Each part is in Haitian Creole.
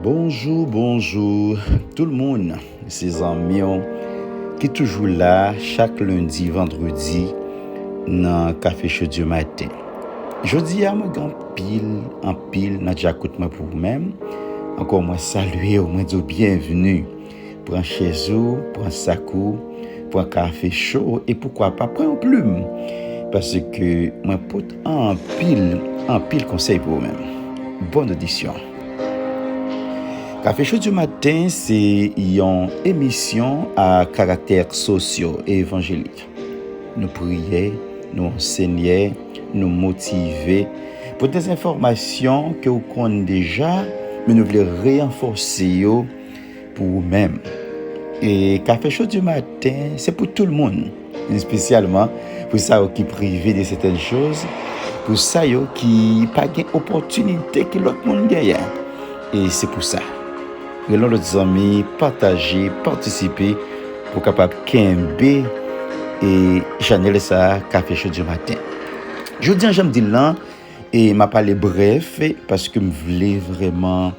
Bonjou bonjou tout moun se zanmion ki toujou la chak lundi vandredi nan kafe chou di maten jodi a mwen gen pil anpil nan djakout mwen pou mwen ankò mwen salye ou mwen di ou byenvni Pran chèz ou, pran sak ou, pran kafe cho ou e poukwa pa pran yon plim paske mwen pot anpil, anpil konsèy pou ou menm. Bòn odisyon! Kafe Cho di Maten se yon emisyon a karaktè sosyo evanjelik. Nou priye, nou ansenye, nou motive pou dezenfòmasyon ke ou konn deja men nou vle reyanfòse yo Pou ou menm. E kafe cho di maten se pou tout moun. Espesyalman pou sa yo ki prive de sèten choz, pou sa yo ki pa gen opòtinite ke lòt moun genyen. E se pou sa. Rele yon lòt zanmi, pataje, patisipe pou kapab kenbe e chanèl sa a kafe cho di maten. Jodi an jan m di l lan e m ap pale brèf paske m vle vrèman.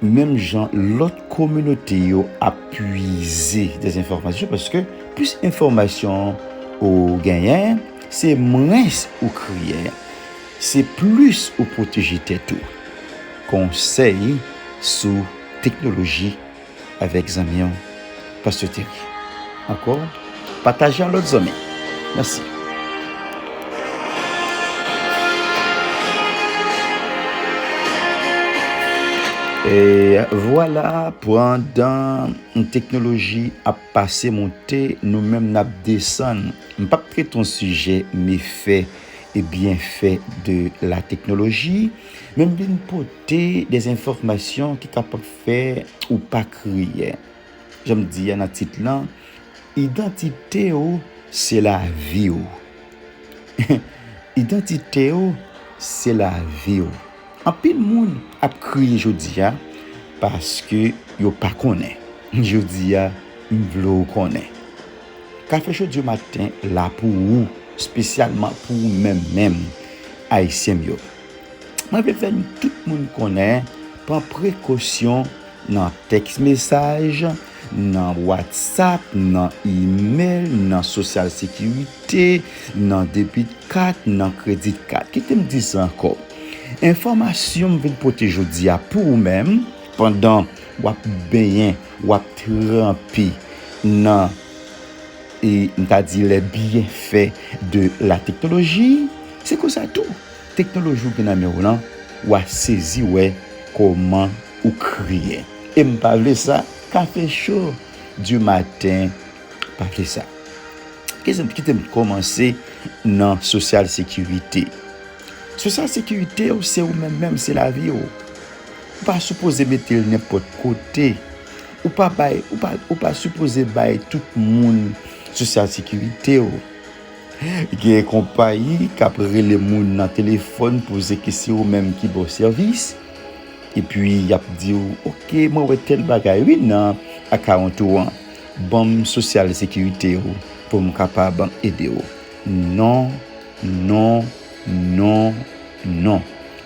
Menm jan lòt kominote yo ap pwize dezenfòmasyon paske plis enfòmasyon ou genyen se mwens ou kriye, se plis ou pwoteje tèt ou. Konsèy sou teknoloji. avèk zanmi w Pasteur Terry ankò pataje a lòt zanmi mèsi. Vwala pandan teknoloji ap pase moute nou menm nap desann m pap trete yon sijè mefè e byenfè de la teknoloji men m vin pote de enfòmasyon ki kapab Fè ou pa kriye. Jan m di a nan tit lan, idantite w se lavi w. Idantite w se lavi w. Anpil moun ap kriye jodi a paske yo pa konnen. Jodi a, m vle w konnen. Kafe Jodi Maten la pou ou, spesyalman pou ou menm menm, Ayisyen m yo. Mwen vle fè tout moun konnen, pran prekosyon nan tèks mesaj, nan watsap, nan imèl, nan sosyal sekirite, nan debit kat, nan kredit kat. Kite m di sa ankò, enfòmasyon m vin pote jodi a pou ou menm, pandan w ap benyen, w ap tranpe nan, m ta di, lè byenfè de la teknoloji, se konsa tou. Teknoloji ou gen nan menw lan wa sezi wè koman ou kriye. Em pa vle sa kafe cho du matin pa vle sa. Kitem t komanse nan social securite. Social securite ou se ou menm menm se lavi ou. Ou pa sipoze metel nenpot kote. Ou pa bay ou pa sipoze bay tout moun social securite ou. Gen konpayi k ap rele moun nan telefòn poze ke se yo menm ki ba w sèvis, epi y ap di w ok mwen wè tèl bagay wi nan akawont ou an, ban m sosyal sekirite w pou m kapab ede w. Non, non, non, non.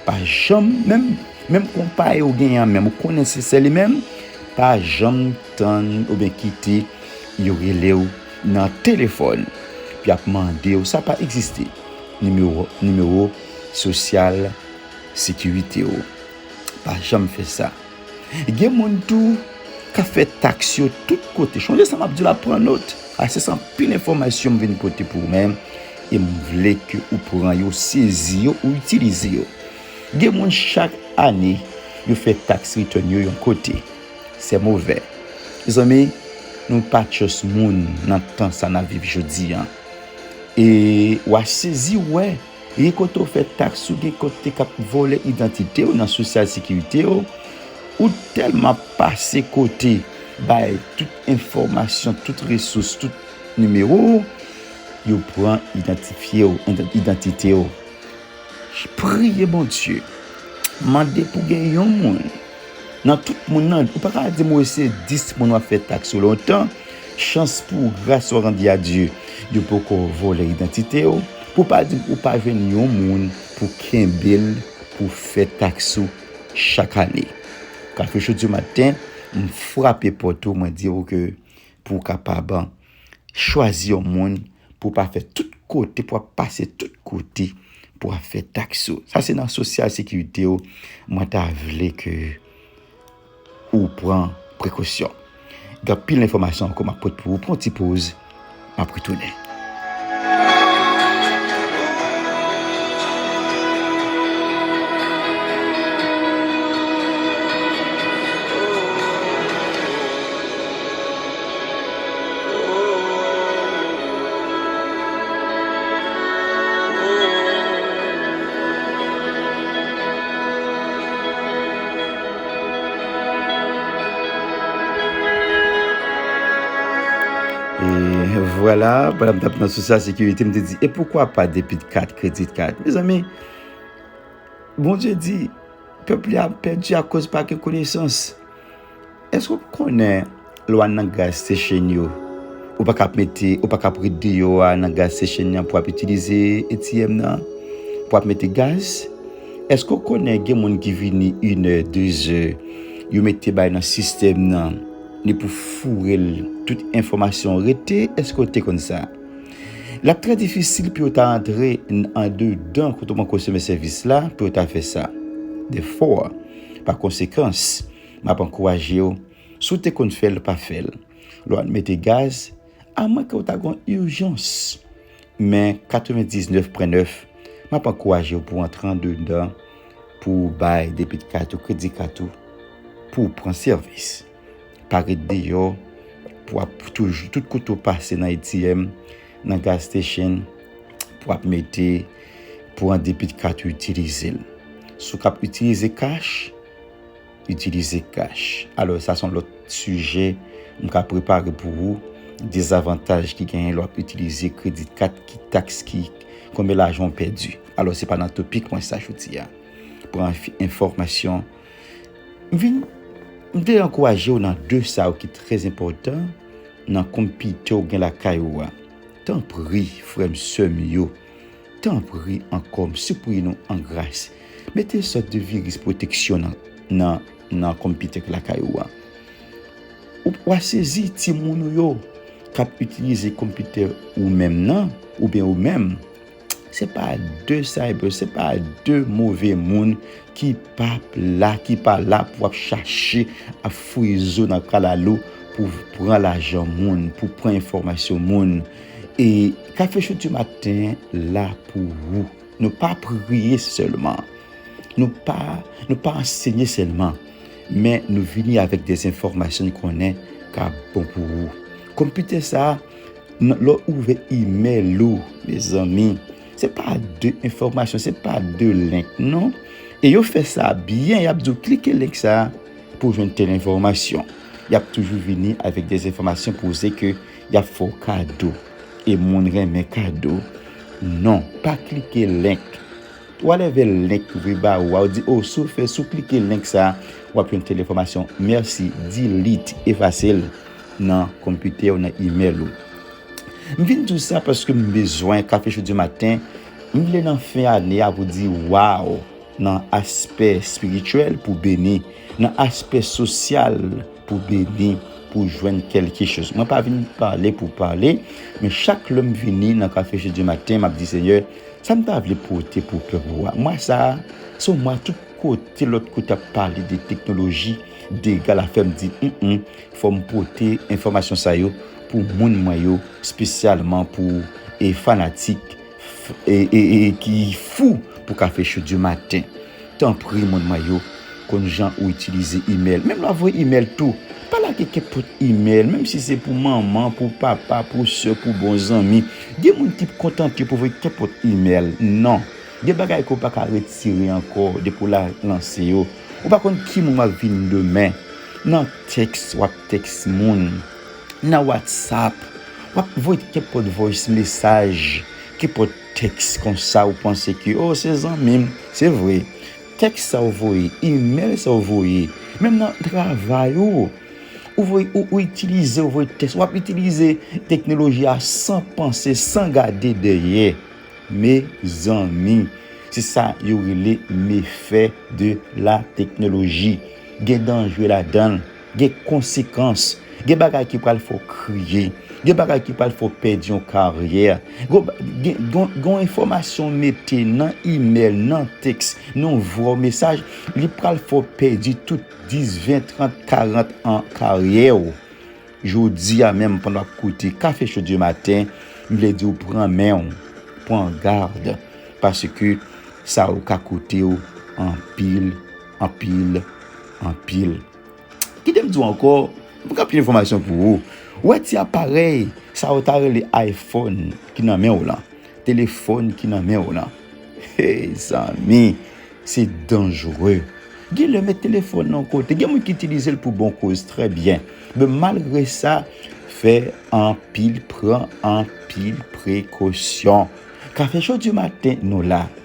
Pa janm, menm menm konpayi ou genyen an menm, ou konnen se se li menm, pa janm tann oubyen kite yo rele w. Nan telefòn. Epi yap mande w. Sa pa egziste. Nimewo nimewo sosyal sekirite w. Pa janm fè sa. Gen moun tou kap fè taks yo tout kote. Chonje sa map di w la pran not. A se san pil enfòmasyon m vin pote pou ou men. E m vle ke ou pran yo, sezi yo, ou itilize yo. Gen moun chak ane yo fè taks return yo yon kote. Se move. Mezanmi nou pa tjos moun nan tan sa nap viv jodi an. E wa sezi wè gen kote ou fè taks ou gen kote kap vole idantite ou nan sosyal sekirite ou. Ou telman pase kote bay tout enfomasyon, tout resous, tout nimewo ou, yo pran idantifye ou, idantite ou. Priye Bondye, mande pou gen yon moun nan tout moun nan, ou pa ka di m wè se 10 moun wap fè tax ou lontan, chans pou w gras wap di a Dye yo poko vòlè idantite w, pou pa di m ou pa jwenn yon moun pou kenbe l pou fè tax ou chak ane. Kafou chou di w maten, m frape pòt ou mwen di w ke pou w kapab Chwazi yon moun pou pa fè tout kote pou ap pase tout kote pou ap fè taks ou. Sa se nan sosyal sekirite ou mwen ta vle ke ou pran prekosyon. Gen anpil enfòmasyon ankò m ap pot pou ou. Pran yon ti poz, m ap retounen. Vwala, pandan m tap nan sou sa sekirite, m te di, e poukwa pa depit kat, kredit kat? Me zanmi, Bondye di, pèp li ap pèdi akoz pa gen konesans. Eske ou konnen lè w al nan gaz sechenn yo, ou pa ka ap mete, ou pa ka ap ret deyò a nan gaz sechenn nan pou ap itilize ATM nan, pou ap mete gaz? Eske ou konnen gen moun ki vini inè, dezè, yo mete bay nan sistèm nan, ni pou foure l, tout enfòmasyon rete, eske ou te konn sa? L ap trè difisil pou yo ta antre andedan kote ou pran konsime sèvis la, pou yo ta fè sa. Dèfò. Pa konsekans, m ap ankouraje w, si w te konn fè l, pa fè l. Lè w al mete gaz, amwenke w ta gen yon ijans, men 99 pwen 9, m ap ankouraje w pou w antre andedan pou w bay debit kat ou, kredi kat ou, pou w pran sèvis. Pa ret deyò pou ap toujou tout kote ou pase nan ATM, nan gas station pou ap mete pou an debit card ou itilize l. Si w ka ap itilize cash, itilize cash. Alò sa son lòt sijè m ka prepare pou ou. Dezavantaj ki genyen lè w ap itilize credit card ki taks ki konbyen lajan ou pèdi. Alò se pa nan topik mwen sa jodi a. Pran enfòmasyon. M vin m vle ankouraje w nan de sa yo ki trè enpòtan nan konpite w gen lakay ou a. Tanpri, frè m, sè m yo, tanpri ankò, m sipriye nou an gras, mete yon sòt de viris pwoteksyon nan nan nan konpite ki lakay ou a. Ou w a sezi timoun ou yo k ap itilize konpite ou menm nan, oubyen ou menm. Se pa de cyber, se pa de move moun ki pa la, ki pa la pou ap chache ap fouye zo nan kalalou pou pran lajan moun, pou pran enfomasyon moun. E kafe chou di maten la pou ou. Nou pa priye selman. Nou pa, nou pa ansenye selman. Men nou vini avèk de enfomasyon konnen ka bon pou ou. Konpite sa. Lè w ouvè imèl ou mezanmi se pa de enfòmasyon se pa de link non e yo fè sa byen y ap di w klike link sa pou w jwenn tèl enfòmasyon y ap toujou vini avèk de enfòmasyon pou w se ke y ap fè w kado e moun renmen kado non pa klike link w alè vè link yo vin ba ou a ou di o si w fè si w klike link sa w ap jwenn tèl enfòmasyon mèsi delete efase l. nan konpitè ou, nan imèl ou. M vin di w sa paske m bezwen Café Chaudy Maten rive nan fen ane a pou di waw nan aspè espirityèl pou beni, nan aspè sosyal pou beni, pou jwenn kèlke choz. Mwen pa vin pale pou pale, men chak lè m vini nan Café Chaudy Maten, m ap di Senyè, sa m ta vle pote pou pèp ou a. Mwa sa a, se yon mwa tout kote lòt kote ap pale de teknoloji, dega la fè m di, m m. Fò m pote enfòmasyon sa yo pou moun mwen yo spesyalman pou fanatik ki fou pou Cafechou du matin. Tanpri moun mwen yo konn jan ou itilize email. Menm lè w ap voye email tou, pa lage kenpòt email menm si se pou manman, pou papa, pou sè, pou bon zanmi. Gen moun ki p kontante pou voye kenpòt email. Non. Gen bagay ke w pa ka retire ankò depi w lanse yo. Ou pa konn ki moun w ap vin demen. Nan tèks wap tèks moun, nan watsap wap voy kenpòt voice mesaj, kenpòt tèks konsa ou panse ke oh se zanmim, se vre tèks sa ou voye, email sa ou voye, menm nan travay ou, ou voye ou itilize ou voye tèks wap itilize teknoloji a san panse, san gade dèyè mezanmi se sa yo rele mefè de la teknoloji. Gen danje ladan l, gen konsekans, gen bagay ki pral fè w kriye, gen bagay ki pral fè w pèdi yon karyè, gen yon enfòmasyon w mete nan imèl, nan tèks, nan yon vwa w mesaj, li pral fè w pèdi tout 10, 20, 30, 40 an karyè w. Jodi a menm pandan w ap koute Café Chou du Matin, m vle di w pran men w, pran gad, paske sa yo ka koute w anpil. Anpil, anpil. Kite m di w ankò, m gen anpil enfòmasyon pou ou. Ou wè ti aparèy sa yo ta rele ayfòn ki nan men w lan, telefòn ki nan men w lan. Hey zanmi, se danjre. Gen lè met telefòn nan yon kote, gen moun ki itilize l pou bon koz, trè byen. Men malgre sa, fè anpil, pran anpil prekosyon. Kafechodimaten nou la.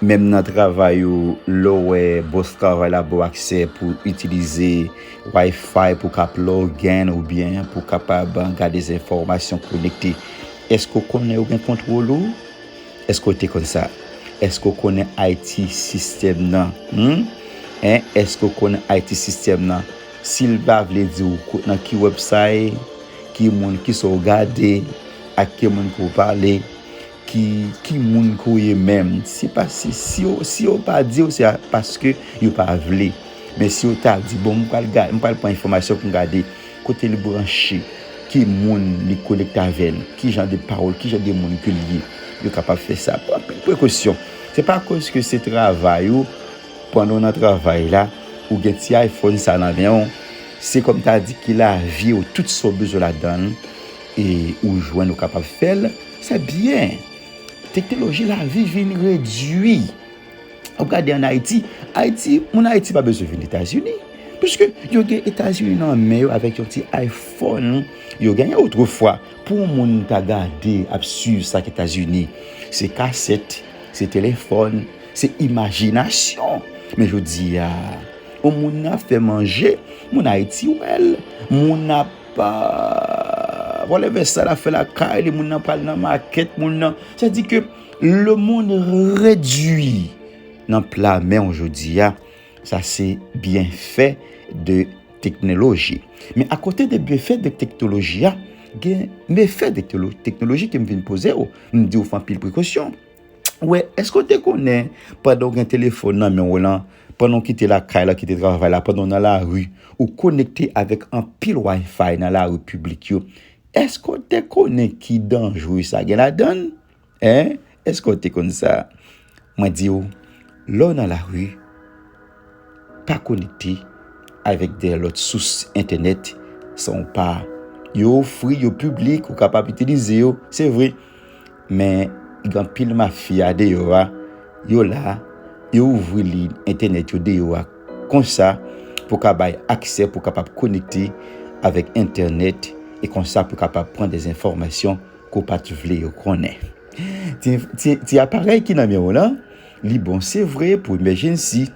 Menm nan travay ou, lè w wè bòs travay la ba w aksè pou w itilize Wi-Fi pou w ka plug in oubyen pou w kapab gade enfòmasyon konekte, èske w konnen yo gen kontwòl ou? Èske w te konn sa? Èske w konnen IT sistèm nan? Hum? Hein? Èske w konnen IT sistèm nan? Si l pa vle di w nan ki website, ki moun, kisa w gade, ak ki moun pou w pale, Ki ki moun ke w ye menm? Se pa si si yo pa di w se paske yo pa vle. Men si yo ta di bon m pral gad m pral pran enfòmasyon pou m gade kote li branche, ki moun li konekte avè l, ki jan de pawòl, ki jan de moun ke l ye. Yo kapab fè sa. Pran anpil prekosyon. Se pa koz ke se travay ou pandan w nan travay la ou gen ti iPhone sa nan men w se kòm ta di ki lavi w tout sa w bezwen ladan l. E ou jwenn ou kapab fè l, se byen. Teknoloji lavi vin redui. Ou gade an Ayiti, Ayiti, moun Ayiti pa bezwen vin Etazini. Piske yo gen Etazini nan men yo avèk yon ti iPhone yo genyen otrefwa. Pou yon moun ta gade ap swiv sa ki Etazini, se kasèt, se telefòn, se imajinasyon. Men jodi a, yon moun ap fè manje, moun Ayiti wè l, moun ap. Pa vole vès sa la fè la kay li moun nan pral nan makèt moun nan. Sa di ke le moun redwi nan pla men ou jodi a. Sa se byen fè de teknoloji. Men akote de byen fè de teknoloji a, gen me fè de teknoloji ke m vin poze ou. M di ou fè anpil prekosyon. Ou wè, eske ou te konnen pandan ou gen telefon nan men ou lan. Pandan w kite lakay la, kite travay la, pandan w nan lari, ou konekte avèk anpil Wi-Fi nan lari piblik yo. Èske w te konnen ki danje sa gen ladan l? Hein? Èske w te konn sa? Mwen di w, lè w nan lari, pa konekte avèk de lòt sous entènèt san w pa. Yo ofri, yo piblik, ou kapab itilize yo, se vre. Men gen anpil mafya deyò a, yo la, yo ouvri liy entènèt yo deyò a konsa pou ka bay aksè pou kapab konekte avèk entènèt e konsa pou kapab pran de enfòmasyon ke w pa t vle yo konnen. Ti, ti aparèy ki nan men w lan, li bon se vre pou emèjennsi,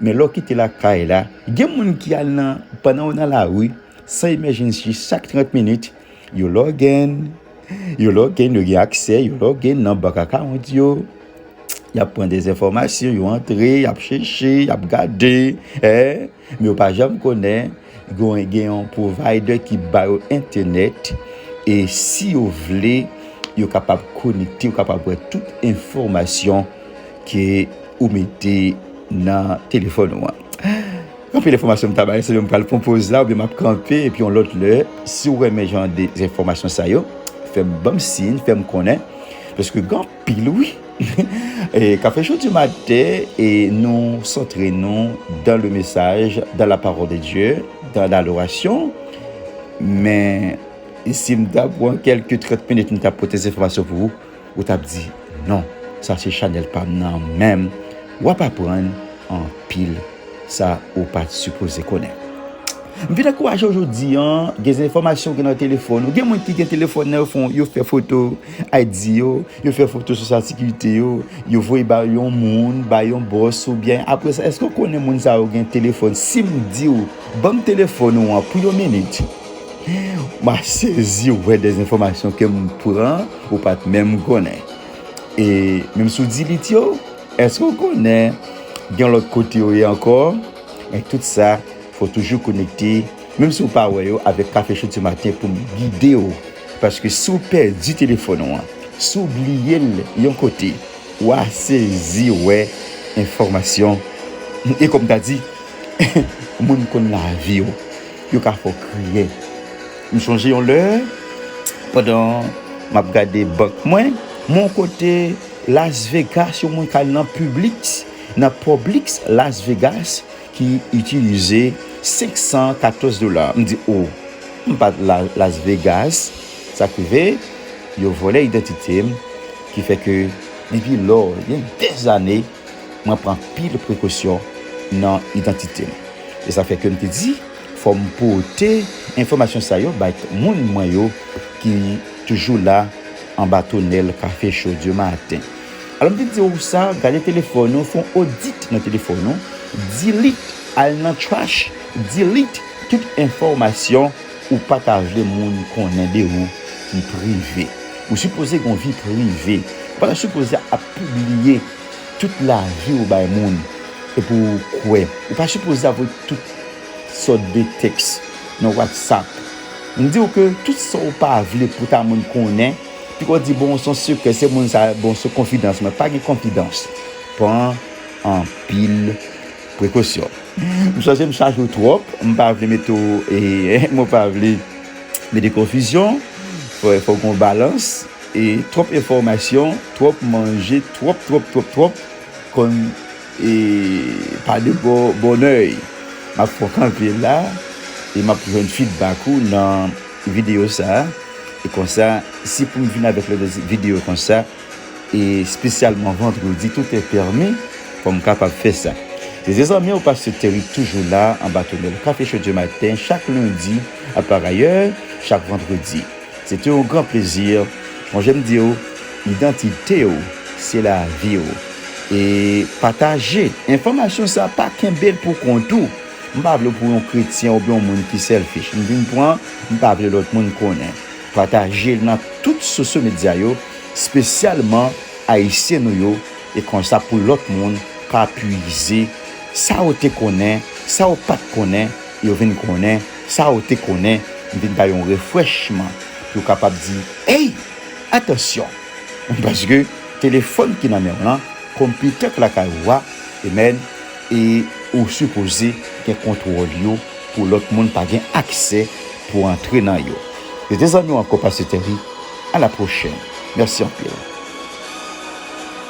men lè w kite lakay la, gen moun ki al nan, pandan w nan lari, san emèjennsi chak 30 minit, yo lògèn, Yo logen, yo gen aksè, yo logen nan bank akawont yo. Y ap pran des enfòmasyon, yo antre, y ap chèche, y ap gade. Men yo pa janm konnen gen yon provider ki ba yo entènèt. E si yo vle, yo kapab konekte, yo kapab wè tout enfòmasyon ke ou mete nan telefòn ou an. Anpil enfòmasyon m ta bay, selon m pral pran poz la oubyen map kanpe epi yon lòt lè, si w renmen jan de enfòmasyon sa yo fè m banm siyn fè m konnen paske gen anpil wi Kafe cho du maten e nou santre nou dan le mesaj, dan la pawòl de Dye, dan ladorasyon men si m ta pran kèlke 30 minit m ta pote enfòmasyon pou ou. Ou tap di non sa se chanel pam nan menm wap aprann anpil sa ou pat sipoze konnen m vin ankourajew jodi an gen zenfomasyon ki nan telefòn ou gen moun ki gen telefòn nan yo fon yo fè foto ID yo yo fè foto sosyal sekirite yo yo voye bay yon moun bay yon bòs ou byen apre sa èske ou konnen moun sa yo gen telefòn sim diw banm telefòn ou an pou yon minit. Mwen sezi wè de enfòmasyon ke m pran ou pat menm konnen. E menm si w di li tyo, èske w konnen gen yon lòt kote yo ye ankò? Men tout sa, fò w toujou konekte, menm si w pa wè yo, avèk Cafechou ti maten pou m gide w. Paske si w pèdi telefòn ou an, si w bliye l yon kote, wa sezi wè enfòmasyon. E kòm ta di, moun konn lavi w. Yo ka fè w kriye. M sonje yon lè, pandan m ap gade bank mwen, m wè yon kote Las Vegas yo mwen ka al nan Publix, nan Publix Las Vegas ki itilize 514 dola. M di, O! M pa t Las Vegas. Sa k rive, yo vòlè idantite m, ki fè ke depi lò, gen dèzane, Mwen pran anpil prekosyon nan idantite m. Se sa k fè ke m te di fò m pote enfòmasyon sa yo bay moun mwen yo ki toujou la anba tonèl kafe cho dye maten. Alò m te di ou sa, gade telefòn ou, fon odit nan telefòn ou, delete, al nan trash, delete tout enfòmasyon. Ou pa ta vle moun konnen de ou ki prive. Ou sipoze gen yon vi prive. Ou pa ta sipoze ap pibliye tout lavi ou bay moun epi w kwè. Ou pa sipoze ap voye tout sòt de tèks nan whatsapp. M di w ke tout sa w pa vle pou ta moun konnen, piko di bon son sekrè se moun sa bon se konfidans mwen. Pa gen konfidans. Pran anpil. Prekosyon. M sonje m chaje w twòp, m pa vle mete w e mwen pa vle mete konfizyon. Fòk gen yon balans e twòp enfòmasyon, twòp manje, twòp, twòp, twòp, twòp konn e pa de bò bònèy. M ap fè w kanpe la e m ap jwenn fidbak ou nan videyo sa a. E konsa, si pou m vin avèk lòt videyo konsa. E spesyalman vandredi tout e permi pou m kapab fè sa. Se ze zanmi w Pastè Terry k toujou la anba tonèl Kafe Chodye Maten chak lendi a par ayè chak vandredi. Se te yon gran plezi Mon jè m di w idantite w se lavi w e pataje enfòmasyon sa pa kenbe l pou kont ou. M pa vle w pou yon kretyen oubyen yon moun ki selfish m vin pran m pa vle lòt moun konnen. Pataje l nan tout sosyo medya yo spesyalman ayisyen nou yo e konsa pou lòt moun ka pwize sa yo te konnen sa yo pat konnen e yo vin konnen sa yo te konnen m vin bay yon refrèchman pou yo kapab di ey atansyon paske telefòn ki nan men w lan konpitè k lakay ou a e menn E ou sipoze gen kontwòl yo pou lòt moun pa gen aksè pou antre nan yo. Se te zanmiw ankò Pasteur Terry, a la pwochèn. Mèsi anpil.